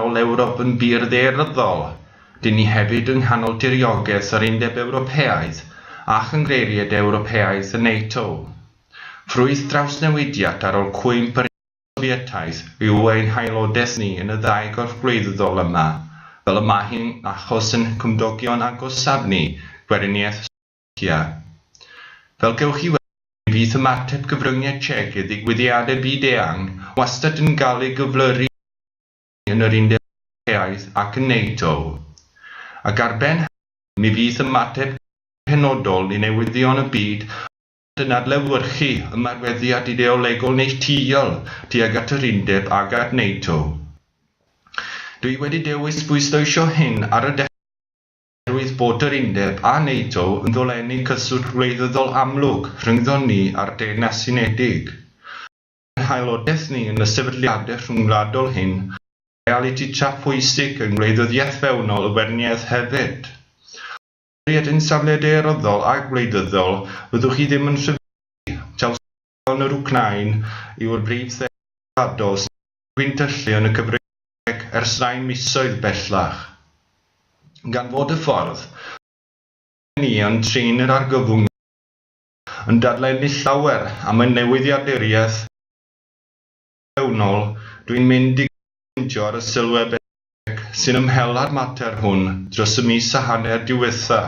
Nghanol Ewrop yn bur ddaearyddol, dŷn ni hefyd yng nghanol diriogaeth yr Undeb Ewropeaidd a Chynghreiriaid Ewropeaidd y NATO. Ffrwyth drawsnewidiad ar ol cwymp yr Undeb Sofietaidd yw ein haelodaeth ni yn y ddau gorff gwleidyddol yma, fel y mae hi'n achos ein cymdogion agosaf ni, Gweriniaeth Sofietaidd. Ia. Fel gewch chi weld, mi fydd ymateb cyfryngiad Czech i ddigwyddiadau byd-eang wastad yn cael ei gyflyru â rhai yn yr Undeb Ewropeaidd ac yn NATO. Ac ar ben hynny, mi fydd ymateb Cymru yn penodol i newyddion y byd wastad yn adlewyrchu ymarweddiad ideolegol neilltuol tuag at yr Undeb ac at NATO. Dw i wedi dewis bwysleisio hyn ar y dechrau. oherwydd bod yr Undeb a NATO yn dolennu cyswllt wleidyddol amlwg rhyngddon ni a'r Deyrnas Unedig. Mae ein haelodaeth ni yn y sefydliadau rhyngwladol hyn yn realiti tra phwysig yng ngwleidyddiaeth fewnol y Weriniaeth hefyd. O ystyried ein safle daearyddol a gwleidyddol, fyddwch chi ddim yn rhyfeddu, taw sut Ysgol yr Wcráin yw'r brif sedd gwladol sy'n cael ei gwintyllu yn y cyfryngau ers rhai misoedd bellach. Gan fod y ffordd mae gennym ni yn trin yr argyfwng yma yn dadlennu llawer am y newyddiaduriaeth ac yn fewnol, dwi'n mynd i gyd ffeindio ar y sylwedd bellach sy'n ymhela'r mater hwn dros y mis a hanner diwetha'.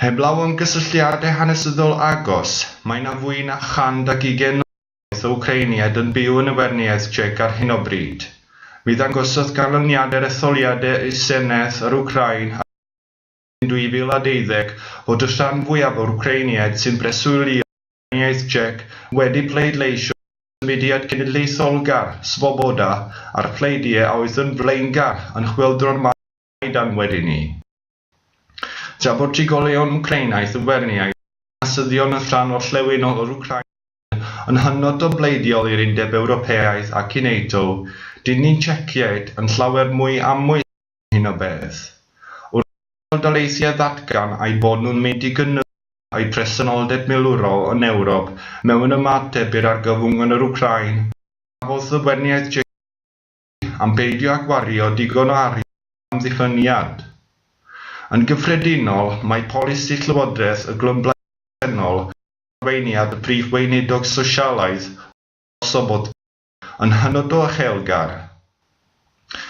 Heblaw am gysylltiadau hanesyddol agos, mae yna fwy na 120 o wybodaeth o Wcreiniaid yn byw yn y Weriniaeth Tsiec ar hyn o bryd. Mi ddangosodd ganlyniadau'r etholiadau i'r Senedd yr Wcráin ar Fehefin 2012 fod y rhan fwyaf o'r Wcreiniaid sy'n breswylio yn y Weriniaeth Tsiec wedi pleidleisio dros y mudiad cenedlaetholgar, Svoboda, a'r pleidiau a oedd yn flaengar yn chwyldro'r Maidan wedyn 'ny. Tra bod trigolion Wcreinaidd yn weriniaeth, mae nasyddion yn rhan orllewinol o'r Wcráin sydd yn hynod o bleidiol i'r Undeb Ewropeaidd ac i NATO, dilyn Tsieciaid yn llawer mwy amwys am hyn o beth. Wrth i Undebau Daleithiau ddatgan eu bod nhw'n mynd i gynyddu eu presenoldeb milwrol yn Ewrop mewn ymateb i'r argyfwng yn yr Wcráin, cafodd y weriniaeth Tsieciaidd, am beidio â gwario digon o arian am ddiffyniad. Yn gyffredinol, mae polisi Llywodraeth y Glymblaid presennol ar arweiniad y Prif Weinidog Sosialaidd Lord Sobota yn hynod o uchelgar.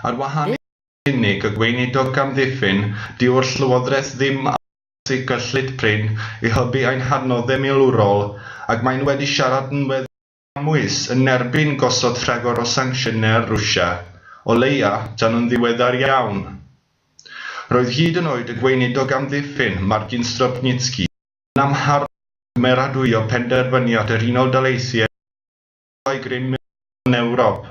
Ar wahân i fod yn unig y Gweinidog gamddiffyn, dyw'r Llywodraeth ddim am achosi cyllid prin i hybu ein hadnoddau milwrol ac maen nhw wedi siarad yn weddol amwys yn erbyn gosod rhagor o sancsiynau ar Rwsia, o leia, tan yn ddiweddar iawn. Roedd hyd yn oed y Gweinidog Amddiffyn, Margin Stropnitzky, yn amharchu ar gymeradwyo penderfyniad yr Unol Daleithiau i ddisgyblau grym milwrol yn Ewrop.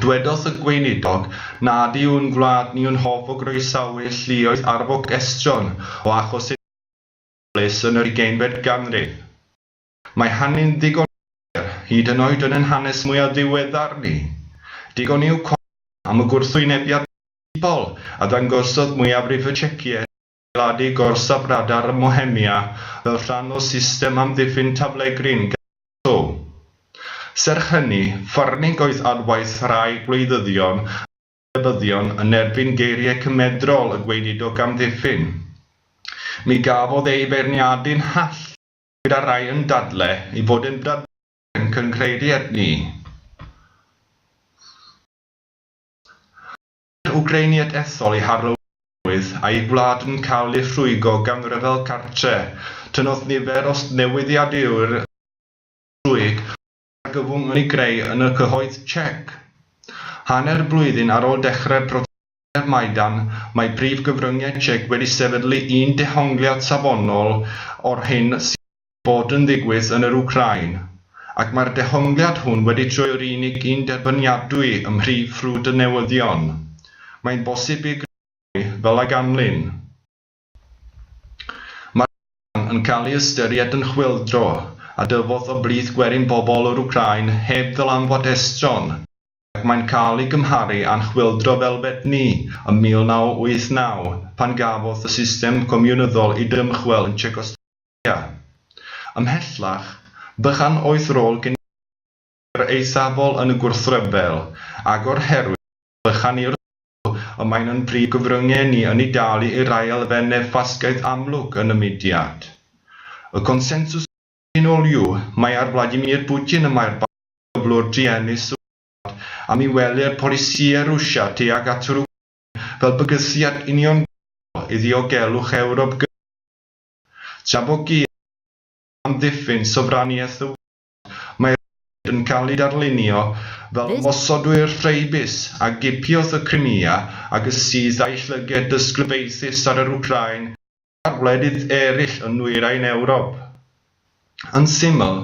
Dwedodd y Gweinidog nad yw ein gwlad ni yn hoff o groesawu lluoedd arfog estron o achos unigryw o ofalus yn yr ugeinfed ganrif. Mae hynny'n ddigon clir, hyd yn oed yn ein hanes mwyaf diweddar ni. Digon yw cofio am y gwrthwynebiad principal a ddangosodd mwyafrif y Czeciaid i adeiladu gorsaf radar ym Mhohemia fel rhan o system amddiffyn taflegryn Gestapo. Serch hynny, Farnig oedd adwaith rhai gwleidyddion a chwilebyddion yn erbyn geiriau cymedrol y gweinidog amddiffyn. Mi gafodd ei feirniadu'n hallt. gyda rhai yn dadle ei fod yn bradfeydd ac yn cynghreiri at ni. Mae'r Wcreiniaid ethol i Harlow Newydd a'i gwlad yn cael eu rhwygo gan ryfel cartre. Tynnodd nifer o newyddiadurwyr Cymreig drwy'r argyfwng ei greu yn y cyhoedd Tsiec. Hanner blwyddyn ar ôl dechrau'r protestau Maidan, mae prif gyfryngiad Tsiec wedi sefydlu un dehongliad safonol o'r hyn sydd wedi bod yn ddigwydd yn yr Wcráin, ac mae'r dehongliad hwn wedi troi o'r unig un derbyniadwy ym mhrif ffrwd y newyddion. Mae'n bosib i greu mwy, fel a ganlyn. Mae'r yn cael ei ystyried yn chwyldro a dyfodd o blith gwerin pobl yr Wcráin heb ddylanwad estron, ac mae'n cael ei gymharu â'n chwyldro felbet ni ym 1989 pan gafodd y system comiwnyddol ei dymchwel yn Tsiecoslofacia. Ymhellach, bychan oedd rôl genedlaethol yr eithafol yn y gwrthryfel, agor herwydd bychan i'r ysgol, y mae'n yn brif gyfrynge ni yn ei dalu i'r rhai elfenne ffasgaeth amlwg yn y mudiad. Y consensws cyffredinol yw mai ar Vladimir Putin y mae'r barn y cyflwr druenus sy'n wlad am i wely'r polisïau Rwsia tuag at yr Wcráin fel bygythiad uniongyrchol i ddiogelwch Ewrop gyntaf, tra bo Giev yn amddiffyn sofraniaeth y wlad. Mae rhaid yn cael ei darlunio fel ymosodwyr Ffraebus a gipiodd y Crimea ac y syth a'i llyged dysglyfaethus ar yr Wcráin a'r wledydd eraill yn Nwyrain Ewrop. Yn syml,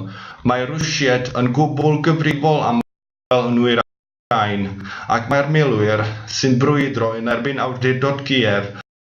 mae Rwsied yn gwbl gyfrifol am ryfel yn Nwyrain Wcráin ac mae'r milwyr sy'n brwydro yn erbyn awdurdod Kiev yn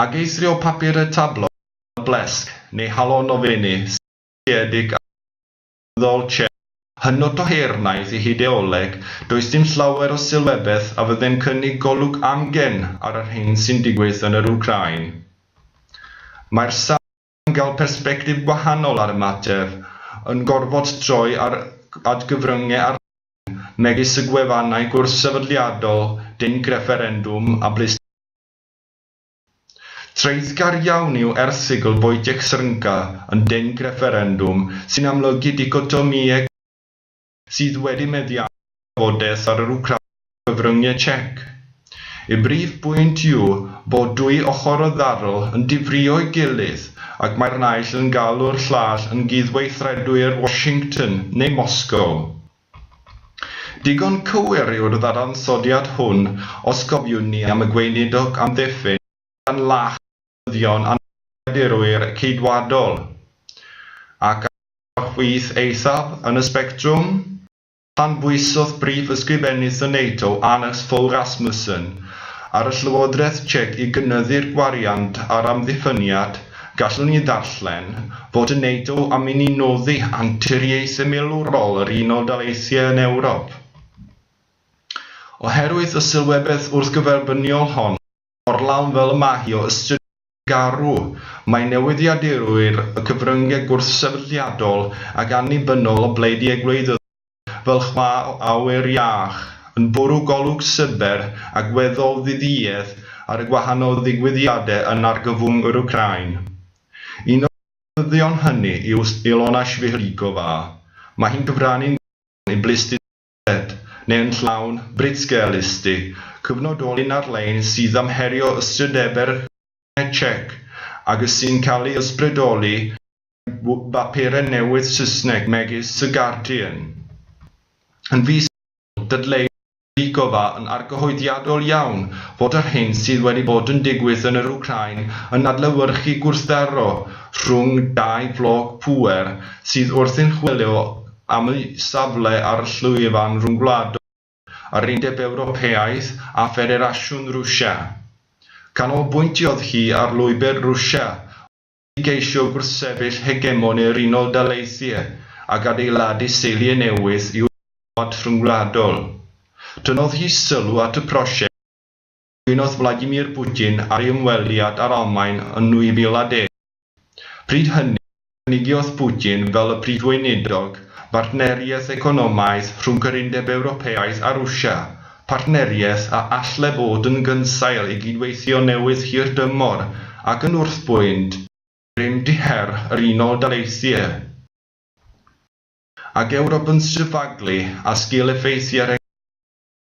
Ac eithrio papur y tablo, y blesg, neu halon o fenni, seiliedig ar ddyfodol Chen. Hynod o her wnaeth ei hideoleg, does dim llawer o sylwebeth a fydde'n cynnig golwg amgen ar yr hyn sy'n digwydd yn yr Wcráin. Mae'r sawl gael persbectif gwahanol ar y mater, yn gorfod troi at gyfryngau arloesol megis y gwefannau gwrthsefydliadol, dinc refferendwm a bleisteiddau. Traethgar iawn yw erthygl Wojciech Srnka yn Dinc Refferendwm sy'n amlygu dicotomïau cymdeithasol sydd wedi meddiannu trafodaeth ar yr Wcráin a chyfryngau Czech. Y brif bwynt yw bod dwy ochr y ddarl yn difrio'i gilydd ac mae'r naill yn galw'r llall yn gyd-weithredwyr Washington neu Moscow. Digon cywir yw'r ddadansoddiad hwn os cofiwn ni am y Gweinidog amddiffyn gan lach newyddion anghydffurfwyr Ceidwadol, ac ar y chwith eithaf yn y sbectrwm, canbwysodd Prif Ysgrifennydd y NATO, Anders Fogh Rasmussen, ar y Llywodraeth Tsiec i gynyddu'r gwariant ar amddiffyniad, gallwn ni ddarllen fod y NATO am inni noddi anturiaethau milwrol yr Unol Daleithiau yn Ewrop. Oherwydd y sylwebaeth wrthgyferbyniol hon, mor lawn fel y mae hi o ystyriaeth garw, mae newyddiadurwyr y cyfryngau gwrthsefydliadol ac annibynnol o bleidiau gwleidyddol fel chwa o awyr iach yn bwrw golwg syber ac weddol ddiduedd ar y gwahanol ddigwyddiadau yn argyfwng yr Wcráin. Un o'r newyddion hynny yw Ilona Svihlikova. Mae hi'n cyfrannu'n gyson i blistusrwydd. Ed, neu yn llawn, Britsgel Ysty, cyfnodolyn ar-lein sydd am herio ystrydebau'r Cymuned Tsiec ac y sy'n cael ei ysbrydoli gan bapurau newydd Saesneg megis The Guardian. Yn fis Ionawr, dadleuodd Novikova yn argyhoeddiadol iawn fod yr hyn sydd wedi bod yn digwydd yn yr Wcráin yn adlewyrchu gwrthdaro rhwng dau floc pŵer sydd wrthi'n chwilio am eu safle ar y llwyfan ryngwladol, yr Undeb Ewropeaidd a Ffederasiwn Rwsia. Canolbwyntiodd hi ar lwybr Rwsia oedd i geisio gwrthsefyll hegemoni yr Unol Daleithiau ac adeiladu seiliau newydd i'w rhyngwlad rhyngwladol. Tynnodd hi sylw at y prosiect. Cwynodd Vladimir Putin ar ei ymweliad â'r Almaen yn 2010. Pryd hynny, cynigiodd Putin fel y Prif Weinidog bartneriaeth economaidd rhwng yr Undeb Ewropeaidd a Rwsia, partneriaeth a all le fod yn gynsail i gydweithio newydd hirdymor ac yn wrthbwynt grym-du her yr Unol Daleithiau ac Ewrop yn sefydlu a sgil-effeithiau'r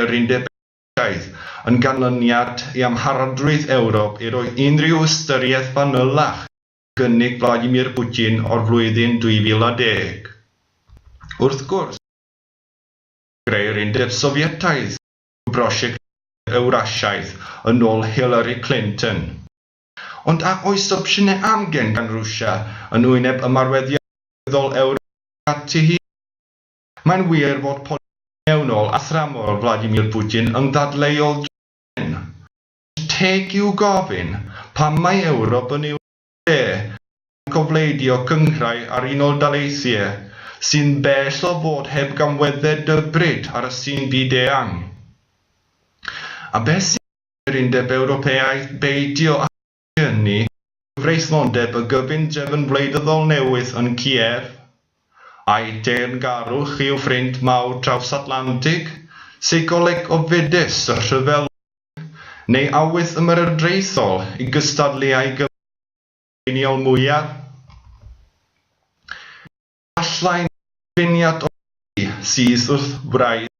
yr Undeb Ewropeaidd, yn ganlyniad i amharodrwydd Ewrop i roi unrhyw ystyriaeth fanylach i gynnig Vladimir Putin o'r flwyddyn 2010. Wrth gwrs, prosiect greu'r Undeb Sofietaidd yw prosiect greu'r Ewrasiaeth yn ôl Hillary Clinton. Ond a oes opsiynau amgen gan Rwsia yn wyneb ymarweddiaeth gynyddol Ewrop tuag ati hi? Mae'n wir fod polisi mewnol a thramor Vladimir Putin yn ddadleuol dros hyn, ond teg yw gofyn pam mae Ewrop yn ei wneud e gan gofleidio cynghrair a'r Unol Daleithiau sy'n bell o fod heb gamweddau dybryd ar y sin byd-eang? A beth sy'n gwneud i'r Undeb Ewropeaidd beidio â ynni, cyfreithlondeb y gyfundrefn wleidyddol newydd yn Kiev, a'i deyrngarwch i'w ffrind mawr traws-Atlantig, seicoleg ofidus y rhyfelwyr, neu awydd ymerodraethol i gystadlu â'i gyfaill Gweriniol mwyaf? Efallai mai cyfuniad o'r ddau sydd wrth wraidd.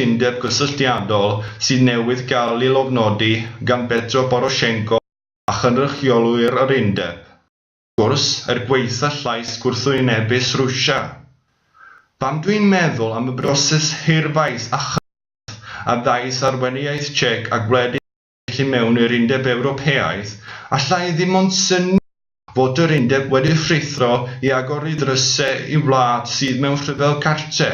cytundeb gysylltiadol sydd newydd gael ei lofnodi gan Petro Poroshenko a chynrychiolwyr yr undeb. Wrth gwrs, er gwaetha llais gwrthwynebus Rwsia, pan dwi'n meddwl am y broses hirfaith a chymhleth a ddaeth ar weinyddiaeth Czech a gwledydd felly mewn i'r Undeb Ewropeaidd, allai ddim ond synnu fod yr Undeb wedi rhuthro i agor ei ddrysau i wlad sydd mewn rhyfel cartre,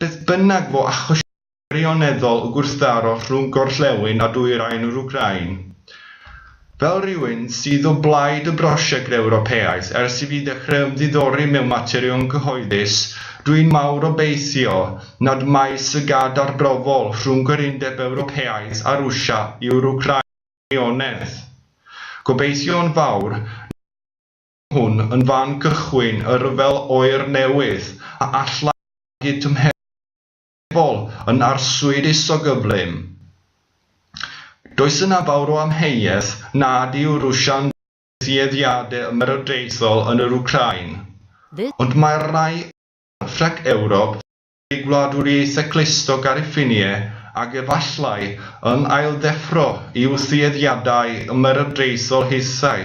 beth bynnag fo achosion gwirioneddol y gwrthdaro rhwng gorllewin a dwyrain yr Wcráin. Fel rhywun sydd o blaid y brosiect Ewropeaidd ers i fi ddechrau ymddiddori mewn materion cyhoeddus, dw i'n mawr obeithio nad mai llygad arbrofol rhwng yr Undeb Ewropeaidd a Rwsia yw'r Wcrainionedd. Gobeithio'n fawr nad yw hwn yn fan cychwyn y rhyfel oer newydd a allai magu tymheredd gwledol yn arswyd isogyflym. Does yna fawr o amheuaeth nad yw Rwsia'n dweud tueddiadau ymerodraethol yn yr Wcrain, ond mae'r rhai Ffrainc, Ewrop, ei Gwladwriaethau Clustog ar y ffinie, ac efallai, yn ailddeffro i'w thueddiadau ymerodraethol hithau.